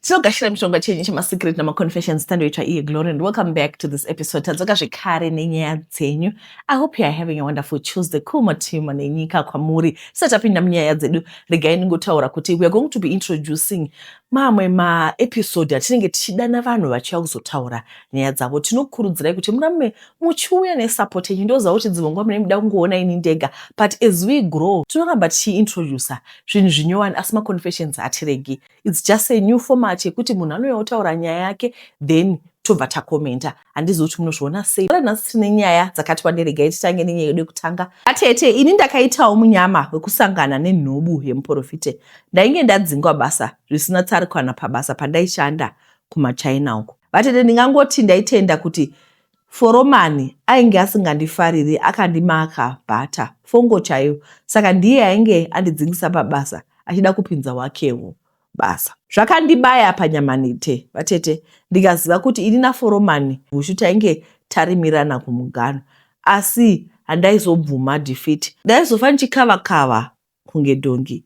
tinogashira mishonga chenyu chemasecret namaconfessions tandoitwa iye glory and welcome back to this episode tadzoka zvekare nenyaya dzenyu i hope youare having a wonderful tuesday cool matimo nenyika kwamuri tisati tapinda munyaya dzedu regai ndingotaura kuti weare going to be introducing mamwe maepisode atinenge tichidana vanhu vachiuya kuzotaura nyaya dzavo tinokurudzirai kuti murambe muchiuya nesupport yenyu ndoziva kuti dzimwe nguva mune muda kungoona ini ndega but as we grow tinoramba tichiintroducer zvinhu zvinyowani asi maconfessions hatiregi It's just a new format yekuti munhu anouya otaura nyaya yake then tobva takomenta handizivi kuti munozviona sei ora nhasi tine nyaya dzakati wanderegai titange nenyaya yedu yekutanga atete ini ndakaitawo munyama wekusangana nenhubu yemuprofite ndainge ndadzingwa basa zvisina tsari kana pabasa pandaishanda kumachina uku vatete ndingangoti ndaitenda kuti Foromani ainge asingandifariri akandimaka butter fongo chaiyo saka ndiye ainge andidzingisa pabasa achida kupinza wakewo basa. Zvakandibaya panyama nite vatete ndikaziva kuti ini naForomani Bushu tainge tarimirana kumuganhu asi handaizobvuma defeat ndaizofa ndichikava kava kunge dhongi.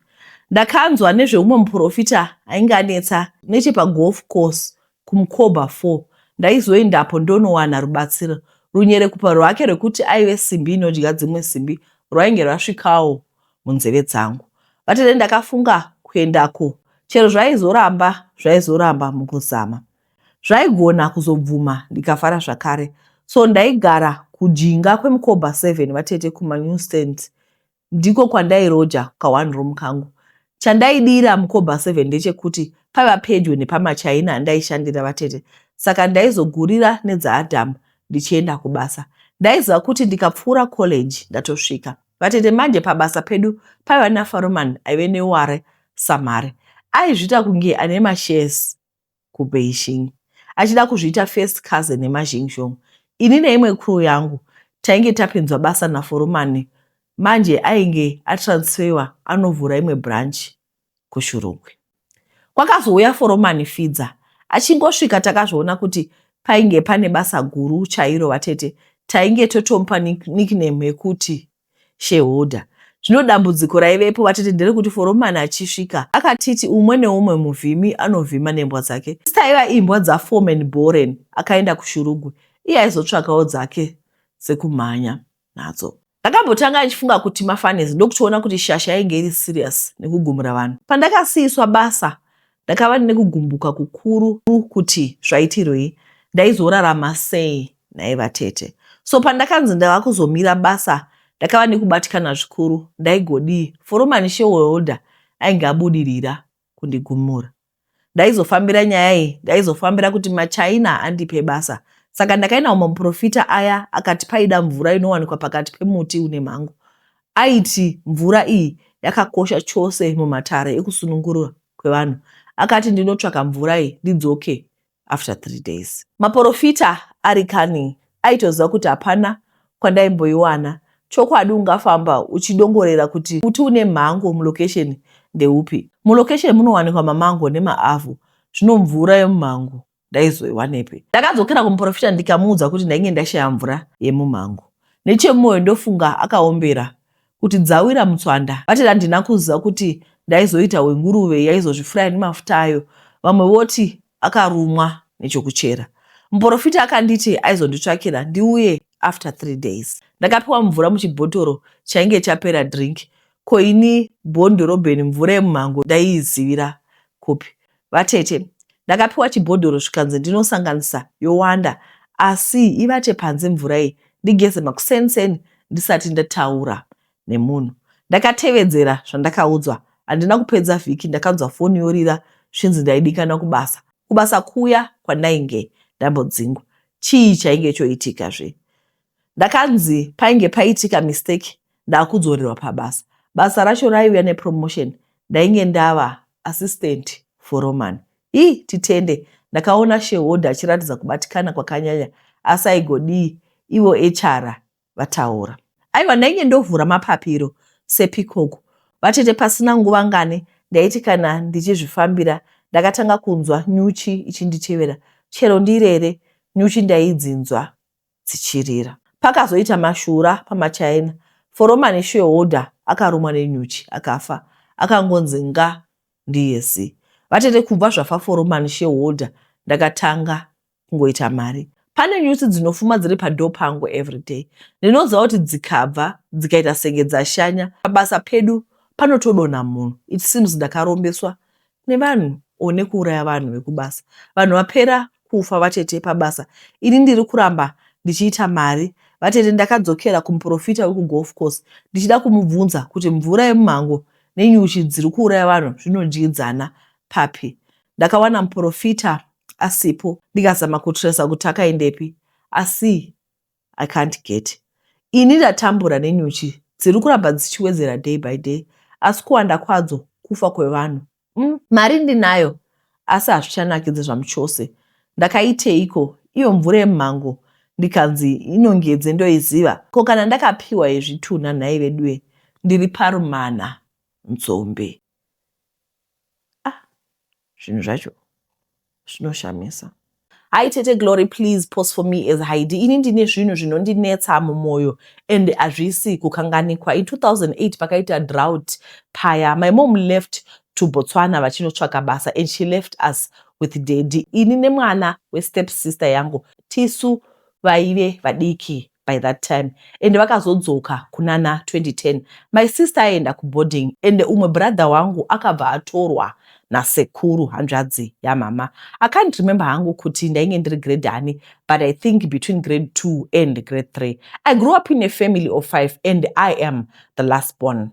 Ndakanzwa nezveumwe muporofita ainge anetsa nechepagolf course kuMkoba four. Ndaizoendapo ndonowana rubatsiro. Runyerekupa rwake rwekuti aive simbi inodya dzimwe simbi rwainge rwasvikawo munzeve dzangu. Vatete ndakafunga kuendako chero zvaizoramba zvaizoramba mukuzama. Zvaigona kuzobvuma ndikafara zvakare. So ndaigara kujinga kweMkoba seven vatete kumaNew stand ndiko kwandairoja ka one room kangu. Chandaidira mukobha seven ndechekuti paiva pedyo nepamachaina andaishandira vatete saka ndaizogurira nedzaAdam ndichienda kubasa. Ndaiziva kuti ndikapfuura college ndatosvika. Vatete manje pabasa pedu paiva naFaroman aive neware samare. Aizvita kunge ane mashares. kuBeijing achida kuzviita first cousin yema Xingzhong. Ini neimwe crew yangu tainge tapinzwa basa naForumani manje ainge atransfewa anovhura imwe branch kuShurugwi. Kwakazouya Foromani Fidza achingosvika takazviona kuti painge pane basa guru chairo vatete tainge totomupa nickname yekuti Shareholder, Zvino dambudziko raivepo vatete nderekuti foromani achisvika akatiti umwe neumwe muvhimi anovhima nembwa dzake. Asi taiva imbwa dzaforeman Boren akaenda kuShurugwi iye aizotsvakawo dzake dzekumhanya nadzo. Ndakambotanga ndichifunga kuti mafunnies ndokutoona kuti shasha yainge iri serious nekugumura vanhu. Pandakasiiswa basa Ndakava ndine kugumbuka kukuru kuti zvaitirwei, ndaizorarama sei nhai vatete. So pandakanzi ndava kuzomira basa ndakava nekubatikana zvikuru, ndaigodii foromani shareholder ainge abudirira kundigumura. Ndaizofambira nyaya iyi, ndaizofambira kuti maChina andipe basa. Saka ndakaenda kumaporofita aya akati paida mvura inowanikwa pakati pemuti une mhango. aiti mvura iyi yakakosha chose mumatare ekusunungurwa kwevanhu akati ndinotsvaka mvura iyi ndidzoke after three days. Maporofita ari kani aitoziva kuti hapana kwandaimboiwana chokwadi ungafamba uchidongorera kuti muti une mhango mulocation ndeupi mulocation munowanikwa mamango nemaavhu zvino mvura yemumhango ndaizoiwanepi? Ndakadzokera kumuprofita ndikamuudza kuti ndainge ndashaya mvura yemumhango. Nechemumoyo ndofunga akaombera kuti dzawira mutswanda. Vati handina kuziva kuti ndaizoita wenguruve yaizozvifuraya nemafuta ayo. Vamwe voti akarumwa nechokuchera. Muprofita akanditi aizonditsvakira ndiuye after three days. Ndakapiwa mvura muchibhotoro chainge chapera drink. Ko ini born dhorobheni mvura yemumhango ndaiizivira kupi? Vatete, ndakapiwa chibhodhoro zvikanzi ndinosanganisa yowanda asi ivate panze mvura iyi ndigeze makuseni seni ndisati ndataura nemunhu. Ndakatevedzera zvandakaudzwa. Handina kupedza vhiki ndakanzwa foni yorira zvinzi ndaidikanwa kubasa. Kubasa kuya kwandainge ndambodzingwa. Chii chainge choitika zve? Ndakanzi painge paitika mistake ndakudzorerwa pabasa. Basa racho raiuya nepromotion ndainge ndava assistant foroman. Hi titende ndakaona shareholder achiratidza kubatikana kwakanyanya asi aigodii ivo HR vataura. Aiwa ndainge ndovhura mapapiro sepikoku vatete pasina nguva ngani ndaiti kana ndichizvifambira ndakatanga kunzwa nyuchi ichinditevera chero ndirere nyuchi ndaidzinzwa dzichirira. Pakazoita mashura pamachaina, foromani shareholder akarumwa nenyuchi akafa akangonzi nga ndiye zi. Vatete kubva zvafa foromani shareholder ndakatanga kungoita mari. Pane nyuchi dzinofuma dziri padoor pangu everyday. Ndinoziva kuti dzikabva dzikaita senge dzashanya pabasa pedu panotodonha munhu. It seems ndakarombeswa nevanhu or nekuuraya vanhu vekubasa vanhu vapera kufa vatete pabasa ini ndiri kuramba ndichiita mari vatete ndakadzokera kumuporofita wekugolf course ndichida kumubvunza kuti mvura yemumhango nenyuchi dziri kuuraya vanhu zvinodyidzana papi ndakawana muporofita asipo ndikazama kutresa kuti akaendepi asi I can't get ini ndatambura nenyuchi dziri kuramba dzichiwedzera day by day asi kuwanda kwadzo kufa kwevanhu mm, mari ndinayo asi hazvichanakidze zvamuchose ndakaiteiko iyo mvura yemhango ndikanzi inongedze ndoiziva ko kana ndakapiwa yezvitunha nhai veduwe ndiri parumana nzombe Zvinhu zvacho zvinoshamisa. Hi tete Glory please post for me as Heidi ini ndine zvinhu zvinondinetsa mumoyo and hazvisi kukanganikwa in 2008 pakaita drought paya my mom left to Botswana vachinotsvaka basa and she left us with daddy ini nemwana westep sister yangu tisu vaive vadiki by that time ende vakazodzoka kunana 2010 my sister aienda kuboarding ende umwe brother wangu akabva atorwa nasekuru hanzvadzi yamama i can't remember hangu kuti ndainge ndiri grade ani but i think between grade 2 and grade 3 i grew up in a family of 5 and i am the last born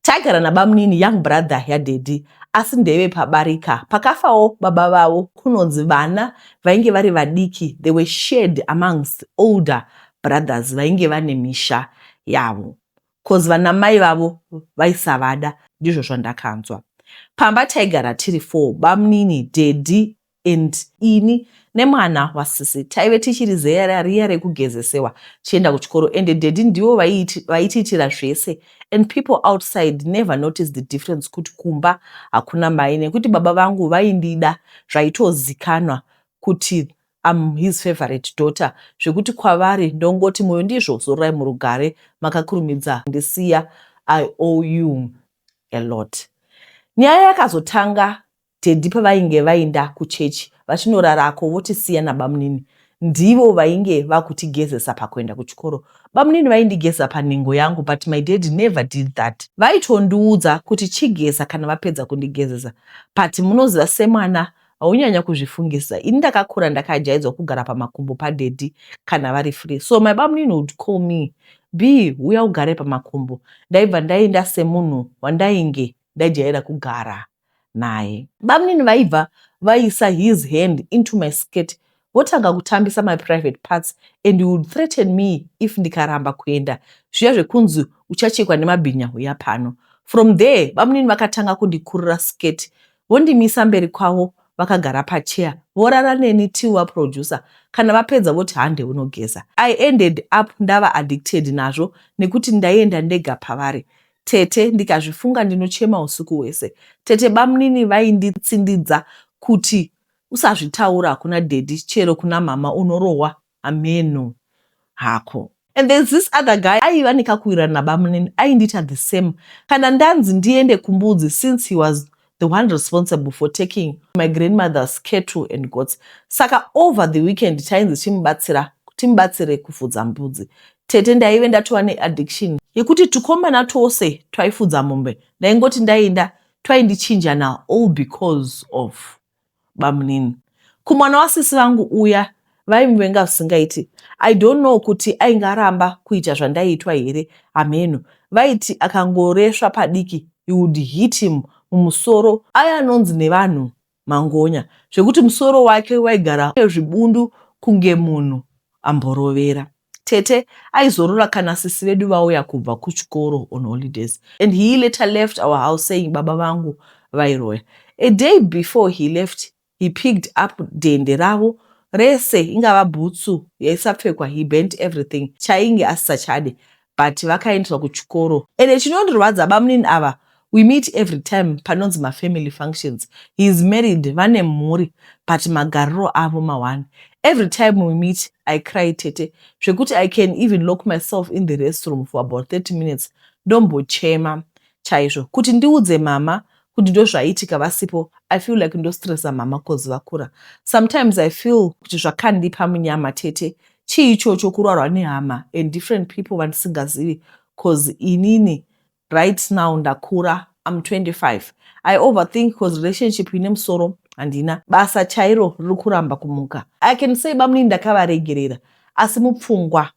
Taigara nabamunini young brother yadaddy asi ndeve pabarika pakafawo baba vavo kunonzi vana vainge vari vadiki they were shared amongst older brothers vainge vane misha yavo coz vanamai vavo vaisavada ndizvo zvandakanzwa. Pamba taigara tiri four bamunini, daddy and ini nemwana wasisi taive tichiri zera riya rekugezesewa tichienda kuchikoro and daddy ndivo vaitiitira zvese and people outside never notice the difference kuti kumba hakuna mai nekuti baba vangu vaindida zvaitozikanwa kuti am his favorite daughter zvekuti kwavari ndongoti moyo ndizvo zororai murugare makakurumidza ndisiya i owe you a lot nyaya yakazotanga Teddy pavainge vainda kuchurch vachinorarako votisiya nabamunini ndivo vainge vakutigezesa pakuenda kuchikoro. Bamunini vaindigeza panhengo yangu but my daddy never did that. Vaitondiudza kuti chigeza kana vapedza kundigezesa but munoziva semwana haunyanya kuzvifungisisa ini ndakakura ndakajaidzwa kugara pamakumbo padaddy kana vari free so my bamunini would call me Bee huya ugare pamakumbo. Ndaibva ndaenda semunhu wandainge ndajaira kugara. naye. Bamnini vaibva vaisa his hand into my skirt votanga kutambisa my private parts and he would threaten me if ndikaramba kuenda zviya zvekunzi uchachekwa nemabhinya huya pano. From there bamnini vakatanga kundikurura skirt vondimisa mberi kwavo vakagara pachair vorara neni till vaproducer kana vapedza voti hande unogeza. I ended up ndava addicted nazvo nekuti ndaienda ndega pavari. tete ndikazvifunga ndinochema usiku hwese. Tete bamnini vainditsindidza kuti usazvitaura kuna daddy chero kuna mama unorohwa hameno hako. And there's this other guy aiva nekakuwirirana nabamnini aindita the same kana ndanzi ndiende kumbudzi since he was the one responsible for taking my grandmother's cattle and goats saka over the weekend tainzi timubatsira timubatsire kufudza mbudzi tete ndaive ndatova neaddiction yekuti tukomana twose twaifudza mombe ndaingoti ndainda twaindichinja na all because of bamunini kumwana wasisi vangu uya vaimuvenga zvisingaiti i don't know kuti ainge aramba kuita zvandaiitwa here hameno vaiti akangoresva padiki he would hit him mumusoro aya anonzi nevanhu mangonya zvekuti musoro wake waigara ezvibundu kunge munhu amborovera Tete aizorora kana sisi vedu vauya kubva kuchikoro on holidays and he later left our house saying baba vangu vairoya. A day before he left he picked up dende ravo rese ingava bhutsu yaisapfekwa he burnt everything chaainge asisachade but vakaendeswa kuchikoro ende chinondirwadza bamunini ava We meet every time panonzi ma family functions. He is married vane mhuri but magariro avo ma one. Every time we meet I cry tete zvekuti I can even lock myself in the restroom for about 30 minutes ndombochema chaizvo kuti ndiudze mhamha kuti ndozvaiitika vasipo i feel like ndostressa mhama cause vakura sometimes i feel kuti zvakandipa munyama tete chii ichocho kurwarwa nehama and different people vandisingazivi cause inini Right now ndakura I'm 25 I overthink cause relationship ine musoro handina basa chairo riri kuramba kumuka I can say bamnini ndakavaregerera asi mupfungwa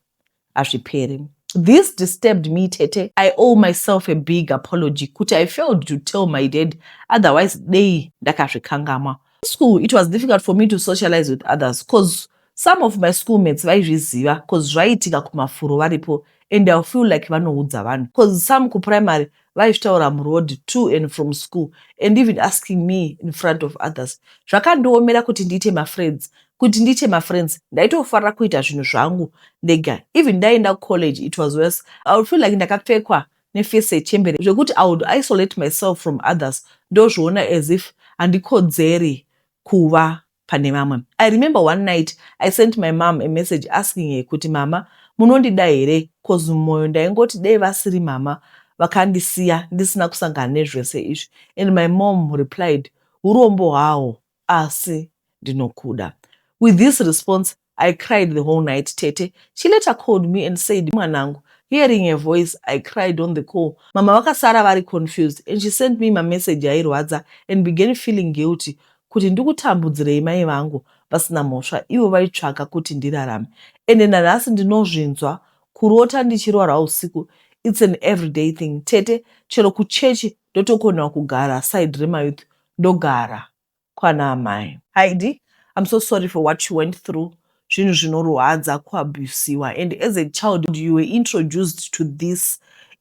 hazviperi This disturbed me tete I owe myself a big apology kuti I failed to tell my dad otherwise dei ndakazvikangamwa school it was difficult for me to socialize with others cause Some of my school mates vaizviziva cause zvaiitika kumafuro varipo and I feel like vanoudza vanhu cause some kuprimary vaizvitaura muroad to and from school and even asking me in front of others. Zvakandiomera kuti ndiite mafriends kuti ndiite mafriends ndaitofarira kuita zvinhu zvangu ndega even ndaienda kucollege it was worse I would feel like ndakapfekwa nefesi yechembere zvekuti I would isolate myself from others ndozviona as if handikodzeri kuva pane vamwe. I remember one night I sent my mom a message asking her kuti mama munondida here coz mumoyo ndaingoti dei vasiri mama vakandisiya ndisina kusangana nezvese izvi and my mom replied hurombo hwaho asi ndinokuda. With this response I cried the whole night tete she later called me and said mwanangu hearing her voice I cried on the call mama vakasara vari confused and she sent me mamessage airwadza and began feeling guilty kuti ndikutambudzirei mai vangu vasina mhosva ivo vaitsvaka kuti ndirarame ende nanhasi ndinozvinzwa kurota ndichirwara usiku its an everyday thing tete chero kuchechi ndotokonewa kugara side remayouth ndogara kwana amai. Heidi I'm so sorry for what you went through zvinhu zvinorwadza kuabusiwa and as a child you were introduced to this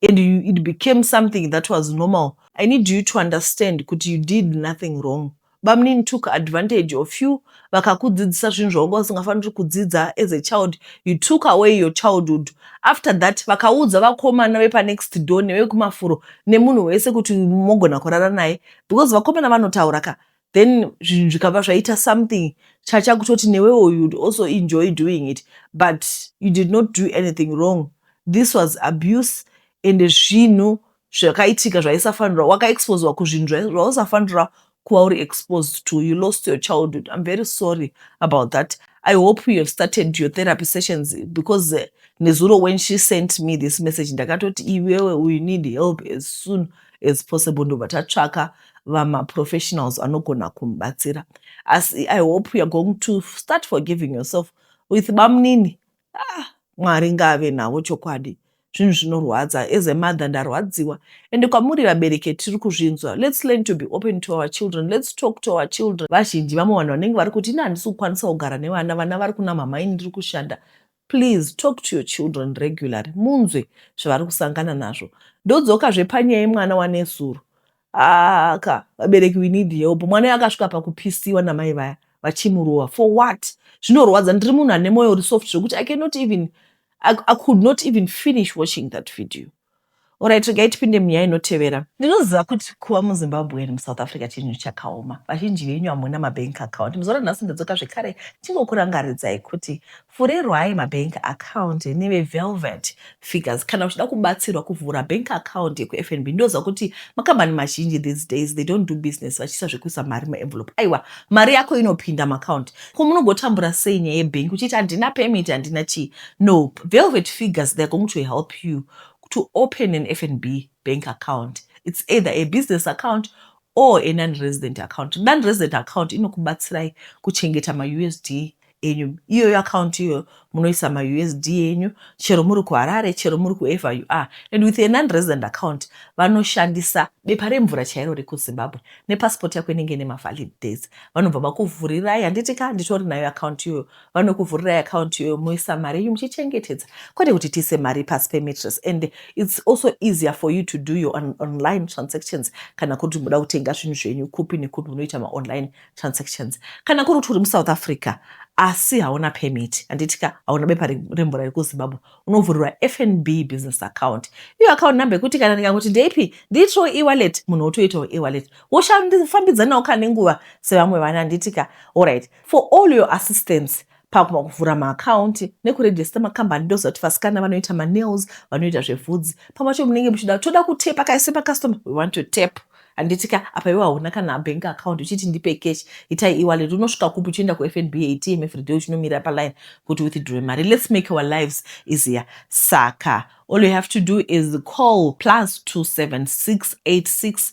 and you, it became something that was normal I need you to understand kuti you did nothing wrong bamnini took advantage of you vakakudzidzisa zvinhu zvawanga usingafaniri kudzidza as a child you took away your childhood after that vakaudza vakomana vepanext door nevekumafuro nemunhu wese kuti mogona kurara naye because vakomana vanotaura ka then zvinhu zvikabva zvaita something chacha kutoti newewo you'd also enjoy doing it but you did not do anything wrong this was abuse and zvinhu zvakaitika zvaisafanirwa wakaexposewa kuzvinhu zvausafanirwa kuva uri exposed to you lost your childhood i'm very sorry about that i hope you have started your therapy sessions because uh, nezuro when she sent me this message ndakatoti iwewe you need help as soon as possible ndobva tatsvaka vamaprofessionals anogona kumubatsira asi i hope youare going to start forgiving yourself with bamunini ah, mwari ngaave navo chokwadi zvinhu zvinorwadza as a mother ndarwadziwa ende kwamuri vabereki tiri kuzvinzwa lets learn to be open to our children lets talk to our children vazhinji vamwe vanhu vanenge vari kuti ini handisi kukwanisa kugara nevana vana vari kuna mhamai ndiri kushanda Please talk to your children regularly munzwe zvavari kusangana nazvo. Ndodzoka zve panyaya yemwana wanezuro. Haa ka vabereki we need help. Mwana uyo akasvika pakupisiwa namai vaya vachimurova for what? Zvinorwadza. Ndiri munhu ane moyo uri soft zvekuti I cannot even I, I could not even finish watching that video. Alright, regai tipinde munyaya inotevera. Ndinoziva kuti kuva muZimbabwean muSouth Africa chinhu chakaoma. Vazhinji venyu hamuna mabank account. Muzuva ranhasi ndodzoka zvekare ndingokurangaridzai kuti vhurerwai mabank account neveVelvet Figures kana uchida kubatsirwa kuvhura bank account yekuFNB. Ndoziva kuti makambani mazhinji these days they don't do business vachiisa zvekuisa mari muenvelope. Aiwa, mari yako inopinda muaccount. Ko munogotambura sei nyaya yebank uchiti handina permit, handina chii? No velvet figures they're going to help you to open an FNB bank account it's either a business account or a non resident account. Non resident account inokubatsirai kuchengeta ma USD enyu. Iyoyo account iyoyo munoisa ma USD enyu chero muri kuHarare chero muri kuever you are. And with a non resident account vanoshandisa bepa remvura chairo rekuZimbabwe nepassport yako inenge ine mavalid dates vanobva vakuvhurirai handiti ka nditori nayo account iyoyo vanokuvhurirai account iyoyo moisa mari yenyu muchichengetedza kwete kuti tiise mari pasi pematress and its also easier for you to do your on online transactions kana kuri kuti muda kutenga zvinhu zvenyu kupi nekupi munoita maonline transactions kana kuri kuti uri musouth africa asi hauna permit handitika hauna bepa remvura rekuzimbabwe unovhurirwa fnb business account iyo account number yekuti kana ndikangoti ndeipi ndiitiro ewalet munhu wotoitawo ewalet woshandifambidzanawo kana nenguva sevamwe vana handitika allright For all your assistance pakuma kuvhura maakaunti nekurejesta makambani ndoziva kuti vasikana vanoita manails vanoita zvevhudzi pamwe cho munenge muchida toda kutepa kaise pacustomer we want to tap handiti ka apa iwe hauna kana bank account uchiti ndipe cash itai ewallet unosvika kupi uchienda kufnb atm everyday uchinomira paline kuti withdrew mari let's make our lives easier saka all you have to do is call plus 27686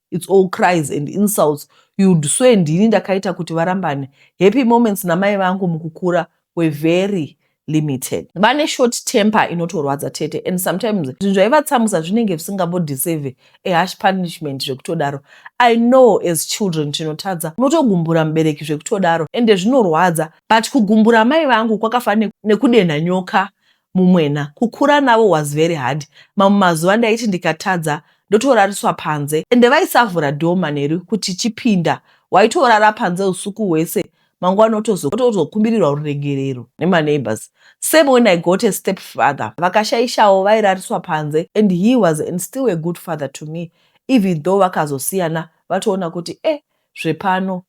its all cries and insults youd swe ndini ndakaita kuti varambane happy moments namai vangu mukukura were very limited vane short temper inotorwadza tete and sometimes zvinhu zvaivatsamwisa zvinenge zvisingambodeserve ahash punishment zvekutodaro i know as children tinotadza unotogumbura mubereki zvekutodaro ende zvinorwadza but kugumbura mai vangu kwakafanira nekudenha nyoka mumwena kukura navo was very hard mamwe mazuva ndaiti ndikatadza ndotorariswa panze ende vaisavhura door manheru kuti chipinda waitorara panze usuku hwese mangwana otozokumbirirwa ruregerero nemaneighbors same when i got a step father vakashaishawo vairariswa panze and he was and still a good father to me even though vakazosiyana vatoona kuti e eh, zvepano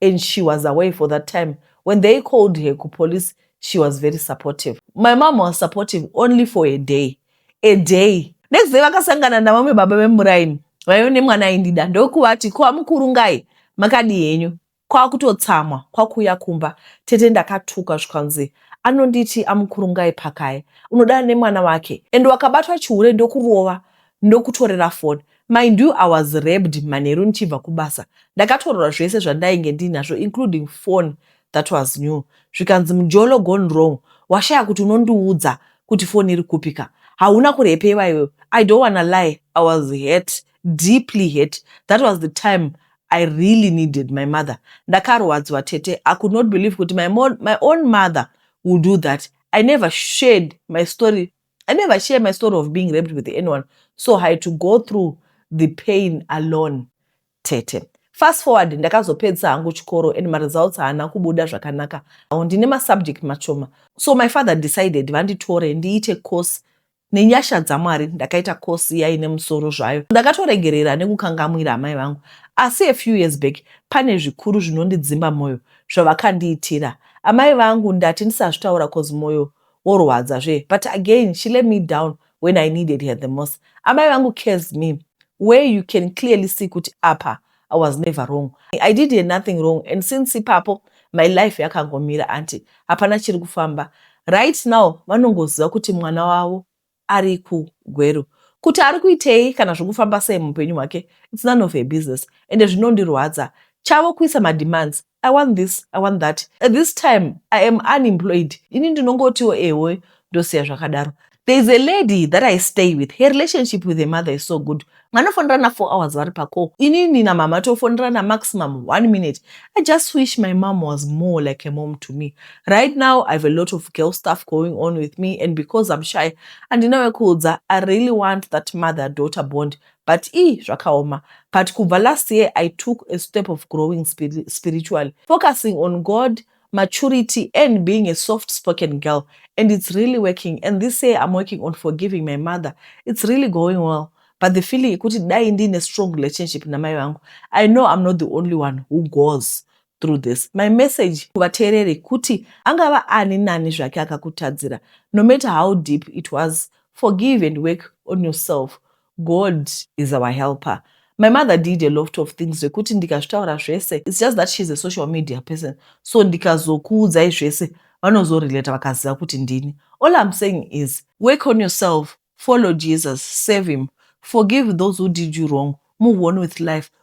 and she was away for that time when they called her kupolice she was very supportive my mom was supportive only for a day a day next day vakasangana navamwe baba vemuraini vaive nemwana aindida ndokuvati ko amukuru ngai makadi henyu kwakutotsamwa kwakuuya kumba tete ndakatuka zvikanzi anonditi amukuru ngai pakaye unodana nemwana wake and wakabatwa chihure ndokurova ndokutorera foni Mind you I was raped manheru ndichibva kubasa. Ndakatorwa zvese zvandainge ndiinazvo including phone that was new zvikanzi mjolo gone wrong washaya kuti unondiudza kuti phone iri kupi ka hauna kurepewa iwe I don't wanna lie I was hurt deeply hurt that was the time I really needed my mother ndakarwadziwa tete I could not believe kuti my, my own mother will do that I never shared my story I never share my story of being raped with anyone, so I had to go through the pain alone. Tete. Fast forward ndakazopedzisa hangu chikoro and maresults haana kubuda zvakanaka. Awo ndine masubject machoma. So my father decided vanditore ndiite course nenyasha dzamwari ndakaita course iya ine musoro zvayo. Ndakatoregerera nekukangamwira amai vangu. Asi a few years back pane zvikuru zvinondidzimba moyo zvavakandiitira. Amai vangu ndati ndisazvitaura cause moyo worwadza zve but again she let me down when I needed her the most. Amai vangu cares me where you can clearly see kuti apa I was never wrong. I did her nothing wrong and since ipapo my life yakangomira aunty hapana chiri kufamba. Right now vanongoziva kuti mwana wavo ari ku Gweru. Kuti ari kuitei kana zvokufamba sei muupenyu hwake it's none of her business ende zvinondirwadza. Chavo kuisa ma demands, I want this, I want that. At this time I am unemployed ini ndinongotiwo ehoi ndosiya zvakadaro. There is a lady that I stay with, her relationship with her mother is so good vanofonerana four hours vari pacall inini namama tofonerana maximum one minute i just wish my mom was more like a mom to me right now i have a lot of girl stuff going on with me and because i'm shy handina wekuudza i really want that mother daughter bond but ii zvakaoma but kubva last year i took a step of growing spiritually focusing on god maturity and being a soft spoken girl and it's really working and this year I'm working on forgiving my mother it's really going well but the feeling yekuti dai ndiine strong relationship namai vangu i know i'm not the only one who goes through this my message kuvateereri kuti angava ani nani zvake akakutadzira no matter how deep it was forgive and work on yourself God is our helper my mother did a loft of things zvekuti ndikazvitaura zvese it's just that she's a social media person so ndikazokuudzai zvese vanozorelata vakaziva kuti ndini all I'm saying is work on yourself follow Jesus save him forgive those who did you wrong move on with life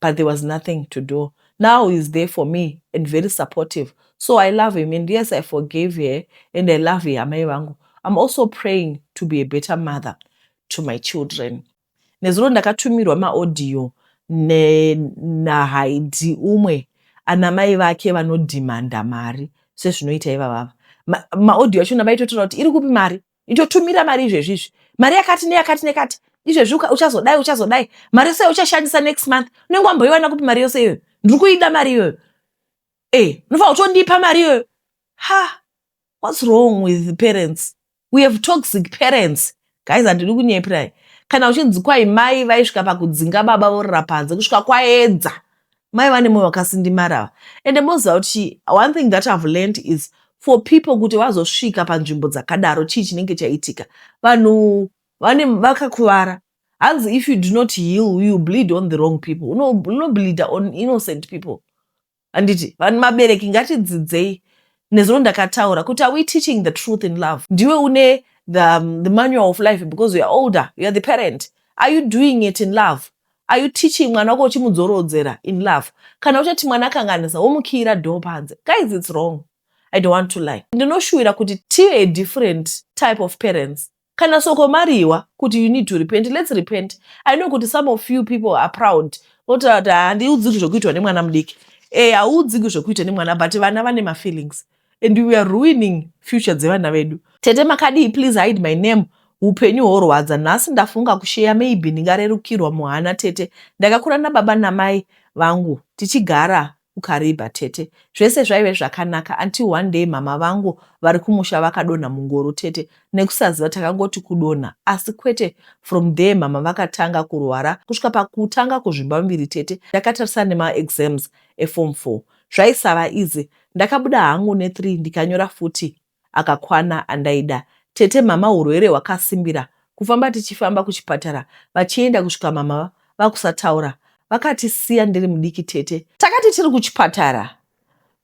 but there was nothing to do now he's there for me and very supportive so i love him and yes i forgave her and i love her amai vangu i'm also praying to be a better mother to my children nezuro ndakatumirwa maaudio nahaidi umwe ana mai vake vanodhimanda mari sezvinoita ivavava maaudio acho navaitotaura kuti iri kupi mari itotumira mari izvezvi izvi mari yakati neyakati nekati izvezvi uchazodai uchazodai mari yose uchashandisa next month unenge wamboiwana kupi mari yose iyoyo ndiri kuida mari iyoyo e eh, unofanira kutondipa mari iyoyo ha what's wrong with parents we have toxic parents guys handidi kunyepirai kana uchinzi kwai mai vaisvika pakudzinga baba vorira panze kusvika kwaedza mai vane moyo wakasindimara ava ende moziva kuti one thing that ihave learned is for people kuti vazosvika panzvimbo dzakadaro chii chinenge chaitika vanhu vane vakakuvara hanzi if you do not heal you bleed on the wrong people unobleeda uno on innocent people handiti vanhu mabereki ngatidzidzei nezuro ndakataura kuti are we teaching the truth in love ndiwe une the, um, the manual of life because youare older youare the parent are you doing it in love Are you teaching mwana wako uchimudzorodzera in love? Kana uchati mwana akanganisa womukiira door panze. Guys, it's wrong. I don't want to lie. Ndinoshuwira kuti tive a different type of parents. Kana soko mariwa kuti you need to repent, let's repent. I know kuti some of you people are proud. Otaura kuti handiudziki zvokuitwa nemwana mudiki. Eh, hauudziki zvokuitwa nemwana but vana vane mafeelings. and we are ruining future dzevana vedu tete makadii please hide my name upenyu horwadza nhasi ndafunga kusheya maybe ndingarerukirwa muhana tete ndakakura nababa namai vangu tichigara ukaribha tete zvese zvaive zvakanaka until one day mama vangu vari kumusha vakadonha mungoro tete nekusaziva takangoti kudonha asi kwete from there mama vakatanga kurwara kusvika pakutanga kuzvimba muviri tete ndakatarisana nemaexams efom four zvaisava easy ndakabuda hangu ne three ndikanyora futi akakwana andaida tete mhamha hurwere hwakasimbira kufamba tichifamba kuchipatara vachienda kusvika mhamha vakusataura vakatisiya ndiri mudiki tete takati tiri kuchipatara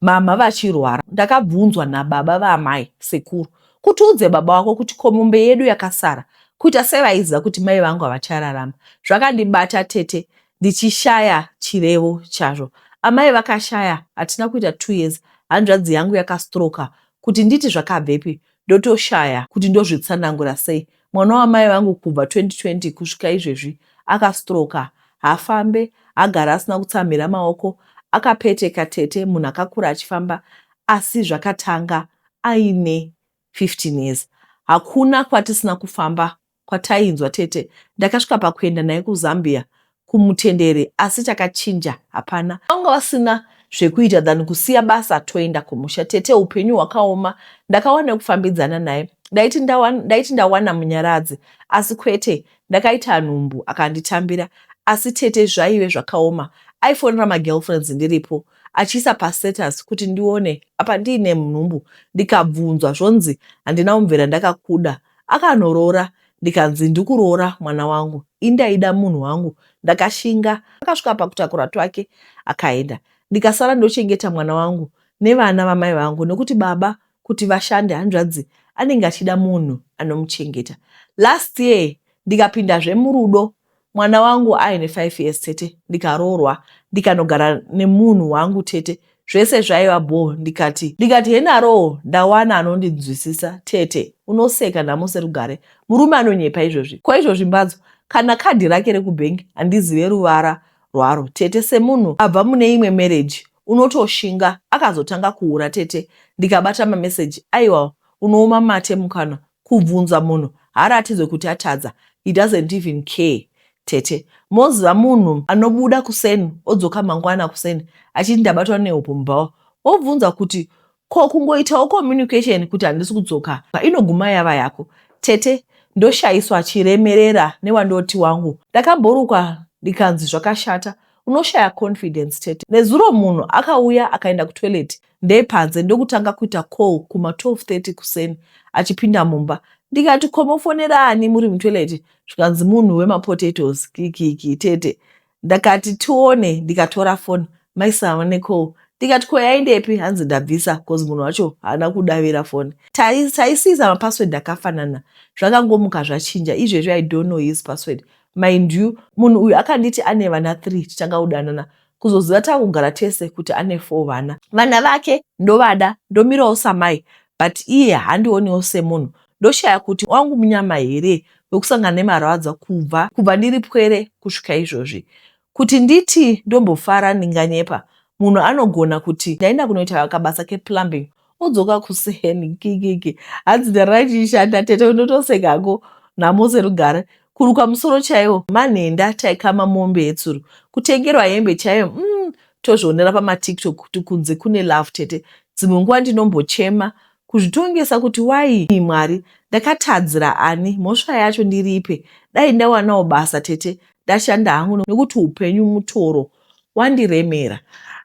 mhamha vachirwara ndakabvunzwa nababa vaamai sekuru kuti udze baba wako kuti komombe yedu yakasara kuita sevaiziva kuti mai vangu havachararama zvakandibata tete ndichishaya chirevo chazvo. Amai vakashaya hatina kuita two years hanzvadzi yangu yakastroka kuti nditi zvakabvepi ndotoshaya kuti ndozvitsanangura sei. Mwana wamai vangu kubva 2020 kusvika izvezvi akastroka hafambe hagara asina kutsamhira maoko akapeteka tete munhu akakura achifamba asi zvakatanga aine 15 years hakuna kwatisina kufamba kwatainzwa tete ndakasvika pakuenda naye kuzambia kumutendere asi chakachinja hapana vanga vasina zvekuita than kusiya basa toenda kumusha tete upenyu hwakaoma ndakawana kufambidzana naye ndaiti ndawana, ndaiti ndawana munyaradzi asi kwete ndakaita nhumbu akanditambira asi tete zvaive zvakaoma aifonera magirlfriends ndiripo achiisa pastatus kuti ndione apa ndiine nhumbu ndikabvunzwa zvonzi handina kumvera ndakakuda Akanoroora ndikanzi ndikuroora mwana wangu ini ndaida munhu wangu ndakashinga akasvika pakutakura twake akaenda ndikasara ndochengeta mwana wangu nevana vamai vangu nekuti baba kuti vashande hanzvadzi anenge achida munhu anomuchengeta last year ndikapindazve murudo Mwana wangu aine five years tete ndikaroorwa ndikanogara nemunhu wangu tete zvese zvaiva bho ndikati ndikati henaroo ndawana anondinzwisisa tete unoseka nhamo serugare murume anonyepa izvozvi ko izvozvi mbadzo kana kadhi rake rekubhengi handizive ruvara rwaro tete semunhu abva mune imwe mereji unotoshinga akazotanga kuura tete ndikabata mameseji aiwa unooma mate mukanwa Kubvunza munhu haaratidzwe kuti atadza he doesn't even care tete moziva munhu anobuda kuseni odzoka mangwana kuseni achiti ndabatwa nehope mubhawa wobvunza kuti ko kungoitawo communication kuti handisi kudzoka inoguma yava yako tete ndoshaiswa chiremerera newandoti wangu ndakamborukwa ndikanzi zvakashata unoshaya confidence tete nezuro munhu akauya akaenda kutoilet ndepanze ndokutanga kuita call kuma 1230 kuseni achipinda mumba ndikati komofonera ani muri mutoilet zvikanzi munhu wemapotatoes kikiki tete ndakati tione ndikatora foni maisava necall ndikati ko yaindepi hanzi ndabvisa bcause munhu wacho haana kudavira foni taisiisa mapassword akafanana zvakangomuka zvachinja izvezvi i don't know his password mind you munhu uyu akanditi ane vana three tichanga kudanana kuzoziva takugara tese kuti ane four vana vana vake ndovada ndomirawo samai but iye handioniwo semunhu ndoshaya kuti wangu munyama here wekusangana nemarwadzo kubva kubva ndiri pwere kusvika izvozvi kuti nditi ndombofara ndinganyepa munhu anogona kuti ndaenda kunoita kabasa keplumbing odzoka kuseni kikiki hanzi dare raichishanda tete unotosekago nhamo dzerugare kurukwa musoro chaiwo manhenda taikama mombe yetsuro kutengerwa hembe chaiyo mm, tozvionera pamatiktok kuti kunze kune love tete dzimwe nguva ndinombochema kuzvitongesa kuti wai mwari ndakatadzira ani mhosva yacho ndiripe dai ndawanawo basa tete ndashanda hangu nekuti upenyu mutoro wandiremera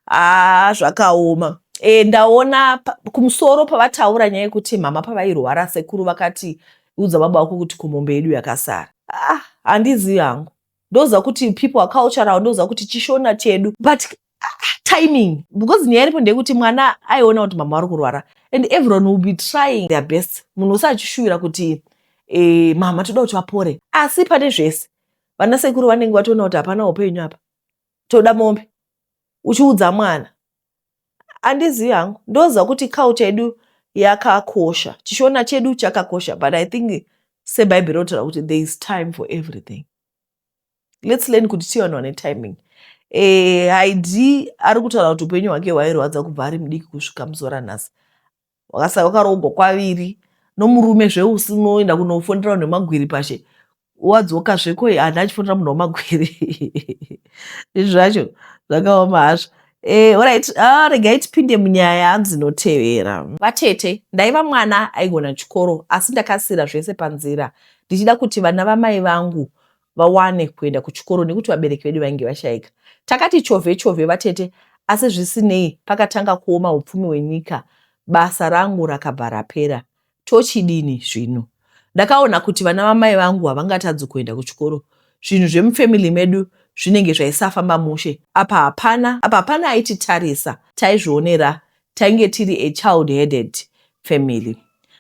haa zvakaoma e, ndaona kumusoro pavataura nyaya yekuti mhama pavairwara sekuru vakati udza baba wako kuti kumombe yedu yakasara ah, handizivi hangu ndoziva kuti people are cultural ndoziva kuti chishona chedu but ah, timing because nyaya iripo ndeyekuti mwana aiona kuti mama vari kurwara and everyone will be trying their best munhu usachishuvira kuti e, mama toda kuti vapore asi pane zvese vana sekuru vanenge vatoona kuti hapana upenyu apa toda mombe uchiudza mwana andizivi hangu ndoziva kuti culture yedu yakakosha chishona chedu chakakosha but i think sebhaibheri rotaura kuti there is time for everything lets learn kuti tiye vanhu vane timing eh, haidi ari kutaura kuti upenyu hwake hwairwadza kubva ari mudiki kusvika muzora nhasi wakasara wakaroogwa kwaviri nomurume zveusi unoenda kunofonera vanhu vemagwiri pashe wadzoka zveko hana achifonera munhu wamagwiri izvi zvacho zvakaoma hazvo Eh, orit ah, regai tipinde munyaya hanzi notevera vatete ndaiva mwana aigona chikoro asi ndakasiira zvese panzira ndichida kuti vana vamai vangu vawane kuenda kuchikoro nekuti vabereki vedu vainge vashaika. Takati chovhe chovhe vatete asi zvisinei pakatanga kuoma upfumi hwenyika basa rangu rakabva rapera. Tochidini zvino? Ndakaona kuti vana vamai vangu havangatadzi kuenda kuchikoro. Zvinhu zvemufamily medu zvinenge zvaisafamba mushe. Apa hapana apa hapana aititarisa taizvionera Tainge tiri a child headed family.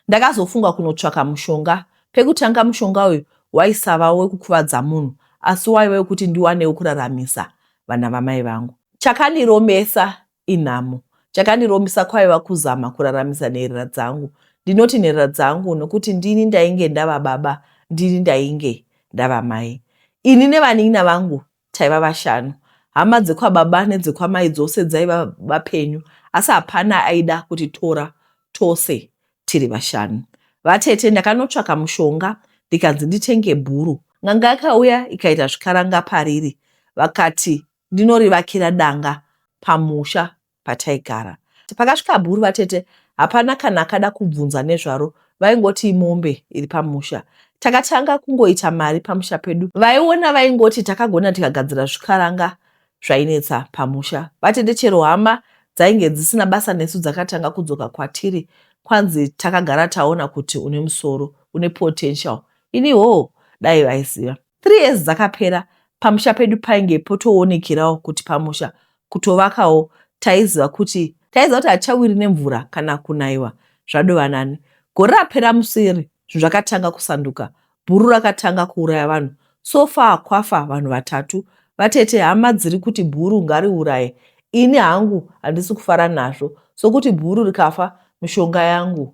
Ndakazofunga kunotsvaka mushonga. Pekutanga mushonga uyu waisava wekukuvadza munhu asi waiva wekuti ndiwanewo kuraramisa vana vamai vangu. Chakandiromesa inhamo. Chakandiromesa kwaiva kuzama kuraramisa nherera dzangu. Ndinoti nherera dzangu nokuti ndini ndainge ndava baba ndini ndainge ndava mai. Ini nevanin'ina vangu Taiva vashanu. Hama dzekwababa nedzekwamai dzose dzaiva vapenyu asi hapana aida kutitora tose tiri vashanu. Vatete ndakanotsvaka mushonga ndikanzi nditenge bhuru. N'anga yakauya ikaita zvikaranga pariri vakati ndinorivakira danga pamusha pataigara. Pakasvika bhuru vatete hapana kana akada kubvunza nezvaro vaingoti imombe iri pamusha. Takatanga kungoita mari pamusha pedu vaiona vaingoti takagona tikagadzira zvikaranga zvainetsa pamusha. Vatete chero hama dzainge dzisina basa nesu dzakatanga kudzoka kwatiri kwanzi takagara taona kuti une musoro une potential ini hoo dai vaiziva. Three years dzakapera pamusha pedu painge potoonekerawo kuti pamusha kutovakawo taiziva kuti taiziva kuti hatichawiri nemvura kana kunaiwa zvadova nani. Gore rapera museri zvinhu zvakatanga kusanduka. Bhuru rakatanga kuuraya vanhu. So far kwafa vanhu vatatu. Vatete hama dziri kuti bhuru ngariuraye. Ini hangu handisi kufara nazvo sokuti bhuru rikafa mishonga yangu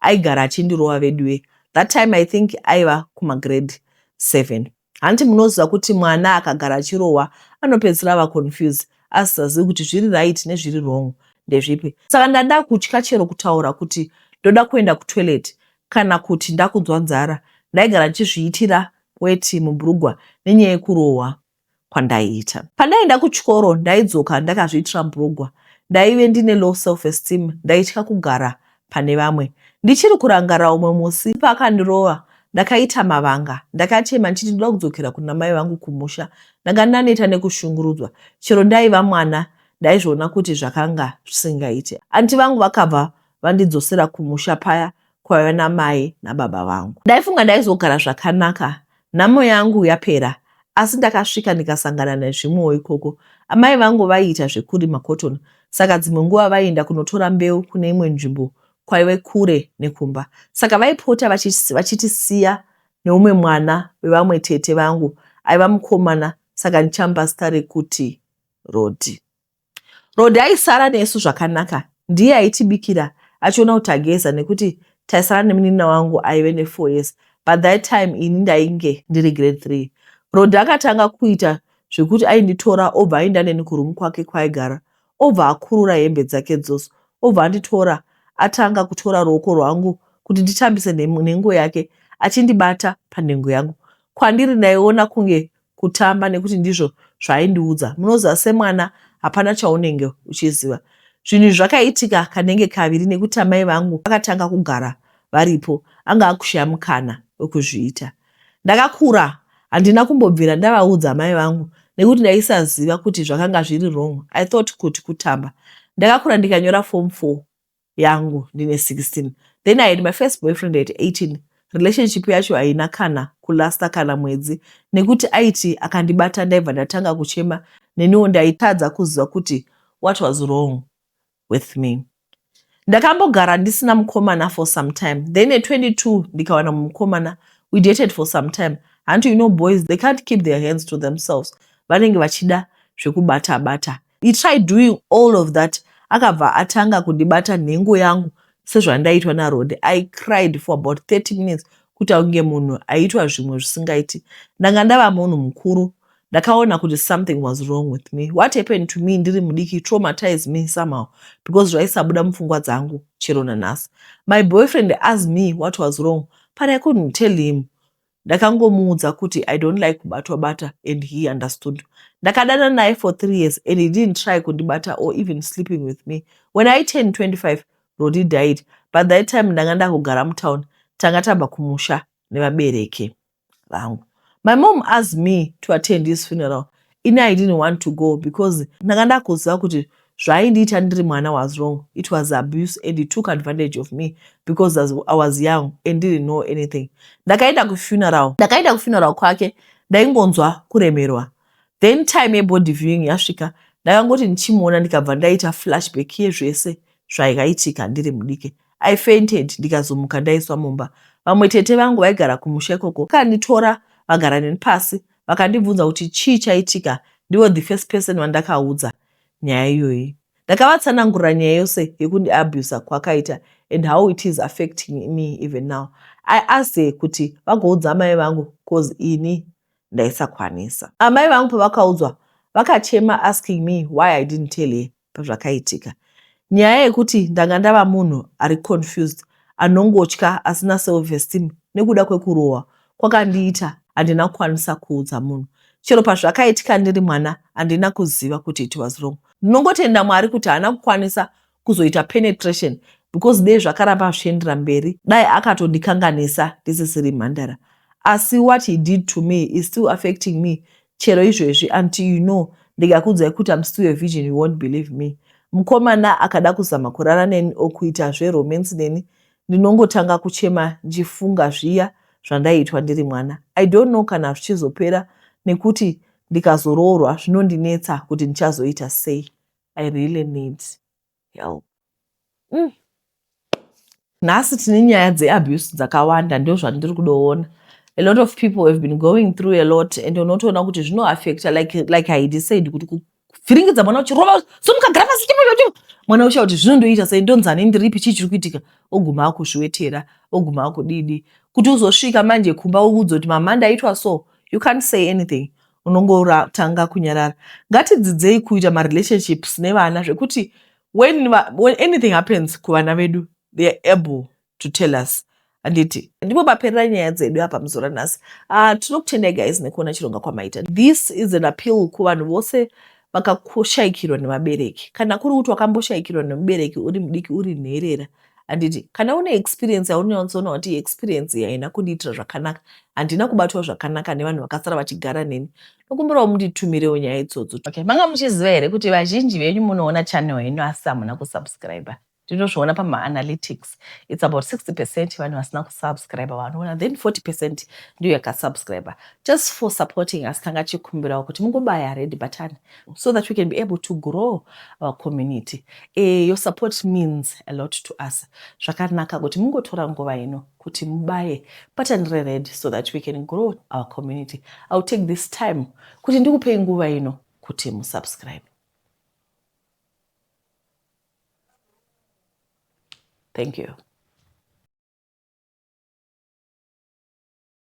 aigara achindirova veduwee that time I think aiva kuma grade seven hanti munoziva kuti mwana akagara achirohwa anopedzisira ava confused asisazivi kuti zviri right nezviri wrong ndezvipi saka ndada kutya chero kutaura kuti ndoda kuenda kutoilet kana kuti ndakunzwa nzara ndaigara ndichizviitira weti mubrugwa nenyaya yekurohwa kwandaiita. Pandaienda kuchikoro ndaidzoka ndakazviitira mbrugwa, ndaive ndine low self esteem ndaitya kugara pane vamwe. Ndichiri kurangara umwe musi paakandirova ndakaita mavanga ndakachema ndichiti ndoda kudzokera kuna mai vangu kumusha. Ndanga ndaneta nekushungurudzwa chero ndaiva mwana ndaizviona kuti zvakanga zvisingaite. Anti vangu vakabva vandidzosera kumusha paya kwaiva namai nababa vangu. Ndaifunga ndaizogara zvakanaka nhamo yangu yapera asi ndakasvika ndikasangana nezvimwewo ikoko. Amai vangu vaiita zvekurima cotton saka dzimwe nguva vaienda kunotora mbeu kune imwe nzvimbo kwaive kure nekumba saka vaipota vachitisiya neumwe mwana wevamwe tete vangu aiva mukomana saka ndichamupa zita rekuti Rodhi. Rod aisara nesu zvakanaka ndiye aitibikira achiona kuti tageza nekuti taisara nemuninina wangu aive nefour years but that time ini ndainge ndiri grade three. Rod akatanga kuita zvekuti ainditora obva aenda neni kuroom kwake kwaigara obva akurura hembe dzake dzose obva anditora atanga kutora ruoko rwangu kuti nditambise nhengo yake achindibata panhengo yangu kwandiri ndaiona kunge kutamba nekuti ndizvo zvaaindiudza. Munoziva semwana hapana chaunenge uchiziva. Zvinhu izvi zvakaitika kanenge kaviri nekuti amai vangu vakatanga kugara varipo anga akushaya mukana wekuzviita. Ndakakura handina kumbobvira ndavaudza amai vangu nekuti ndaisaziva kuti zvakanga zviri wrong. I thought kuti kutamba. Ndakakura ndikanyora form 4 yangu ndine 16 then i had my first boyfriend at 18 relationship yacho haina kana kulasta kana mwedzi nekuti aiti akandibata ndaibva ndatanga kuchema neniwo ndaitadza kuziva kuti what was wrong with me ndakambogara ndisina mukomana for some time then at 22 ndikawana mumukomana we dated for some time hanti you know boys they can't keep their hands to themselves vanenge vachida zvekubata bata, bata. He tried doing all of that akabva atanga kundibata nhengo yangu sezvandaitwa naRode. I cried for about 30 minutes kuita kunge munhu aitwa zvimwe zvisingaiti. Ndanga ndava munhu mukuru. Ndakaona kuti something was wrong with me. What happened to me ndiri mudiki traumatized me somehow because zvaisabuda mupfungwa dzangu chero nanhasi. My boyfriend asked me what was wrong but I couldn't tell him. ndakangomuudza kuti i don't like kubatwa bata and he understood ndakadana naye for three years and he didn't try kundibata or even sleeping with me when i turn 25 rodi died but that time ndanga ndakugara mutown tanga tabva kumusha nevabereki vangu my mom asked me to attend his funeral ini i didn't want to go because ndanga ndakuziva kuti zvaindiita ndiri mwana was wrong it was abuse and he took advantage of me because i was young and didn't know anything ndakaenda kufuneral ndakaenda kufuneral kwake ndaingonzwa kuremerwa then time yebody viewing yasvika ndakangoti ndichimuona ndikabva ndaita flashback yezvese zvaikaitika ndiri mudike i fainted ndikazomuka ndaiswa mumba vamwe tete vangu vaigara kumusha ikoko kanditora vagara neni pasi vakandibvunza kuti chii chaitika ndivo the first person vandakaudza nyaya iyoyi ndakavatsanangurira nyaya yose yekundiabuser kwakaita and how it is affecting me even now i asked her kuti vagoudza amai vangu cause ini ndaisakwanisa amai vangu pavakaudzwa vakachema asking me why i didn't tell her pazvakaitika. Nyaya yekuti ndanga ndava munhu ari confused, anongotya, asina self esteem nekuda kwekurohwa kwakandiita handina kukwanisa kuudza munhu. Chero pazvakaitika ndiri mwana handina kuziva kuti it was wrong. Ndinongotenda Mwari kuti haana kukwanisa kuzoita penetration because dei zvakaramba zvichiendera mberi dai akatondikanganisa ndisisiri mhandara. Asi what he did to me is still affecting me Chero izvezvi until you know ndikakuudzai kuti I'm still a virgin you won't believe me. Mukomana akada kuzama kurara neni or kuita zveromance neni ndinongotanga kuchema ndichifunga zviya zvandaiitwa ndiri mwana. I don't know kana zvichizopera nekuti ndikazoroorwa zvinondinetsa kuti ndichazoita sei. I really need. help mm. nhasi tine nyaya dzeabuse dzakawanda ndozvandiri kudoona a lot of people have been going through a lot and unotoona kuti zvinoaffecta like, like haidi said kuti kuvhiringidza mwana uchirova so mukagara pasi chimocho mwana ucha kuti zvinondoita sei ndonzani ndiripi chii chiri kuitika oguma akuzviwetera oguma akudidi kuti uzosvika manje kumba uudzo kuti mama ndaitwa so you can't say anything unongotanga kunyarara ngatidzidzei kuita marelationships nevana zvekuti when, when anything happens kuvana vedu they are able to tell us handiti ndipo paperera nyaya dzedu apa muzuva ranhasi uh, tinokutendai guys nekuona chironga kwamaita this is an appeal kuvanhu vose vakashaikirwa nevabereki kana kuri kuti wakamboshaikirwa nemubereki uri mudiki uri nherera handiti kana une experience yaunonyatsoona kuti experience iyi haina kundiitira zvakanaka handina kubatwa zvakanaka nevanhu vakasara vachigara neni nokumbirawo munditumirewo nyaya idzodzo okay. manga muchiziva here kuti vazhinji venyu munoona channel yenyu asi hamuna kusubscribe ndinozviona pamaanalytics its about 60 percent vanhu vasina kusubscribe vanoona then 40 percent ndiyo yakasubscribe just for supporting us tanga tichikumbirawo kuti mungobaya red button so that we can be able to grow our community uh, your support means a lot to us zvakanaka kuti mungotora nguva ino kuti mubaye button rered so that we can grow our community iwill take this time kuti ndikupei nguva ino kuti musubscribe thank you